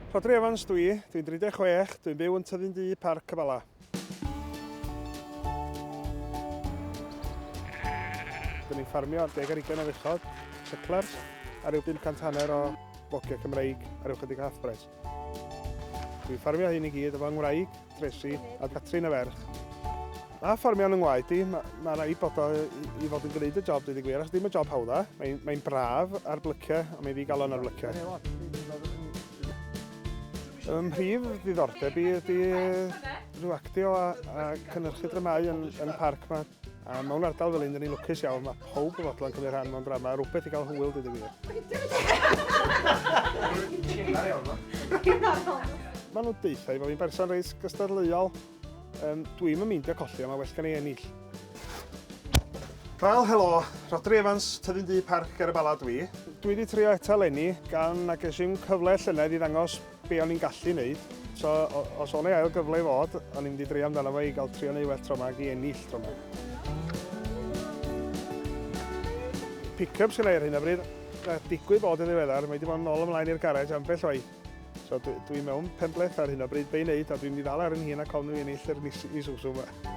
Rhodri Evans dw i, dwi'n 36, dwi'n byw yn Tyddyn Du, Parc y Bala. Dyn ni'n ffarmio ar deg ar ugain o fechod, cyclers, a rhyw 500 hanner o fogiau Cymreig ar yw chydig hathbres. Dwi'n ffarmio hyn i gyd efo yng ngwraig, Tracy, a Catrin y ferch. Mae ffarmio yn yng ngwaed i, mae, mae rhaid bod o i fod yn gwneud y job, dwi wedi gwir, achos ddim y job hawdda. Mae'n mae braf ar blyciau, a mae'n ddigalon ar blyciau. Ym mhrif ddiddordeb i ydy rhyw actio a, a cynhyrchu dramau yn, yn y parc mae A mewn ardal fel un, dyn ni'n lwcus iawn, mae pob yn fodlon cymryd rhan mewn drama, rhywbeth i gael hwyl dyd y gwir. Mae nhw'n deitha i fod fi'n berson reis gystadleuol. Um, Dwi'n mynd meindio colli, ond mae well gan ei ennill. Wel, helo, Rodri Evans, tyfu'n dŷ parc ar y bala dwi. Dwi wedi trio eto lenni, gan na gesim cyfle llynedd i ddangos be o'n i'n gallu wneud. So, os o'n ei ail gyfle i fod, o'n i'n mynd i dreio amdano fo i gael trio neu well tro yma i ennill tro yma. Pick-ups gyda'i ar hyn o bryd, a digwydd bod yn ddiweddar, mae wedi bod yn ôl ymlaen i'r garej ambell waith. So dwi'n dwi mewn penbleth ar hyn o bryd, be'i wneud, a dwi'n mynd i ddal ar yn hun a cofn i ennill yr mis i swsw yma.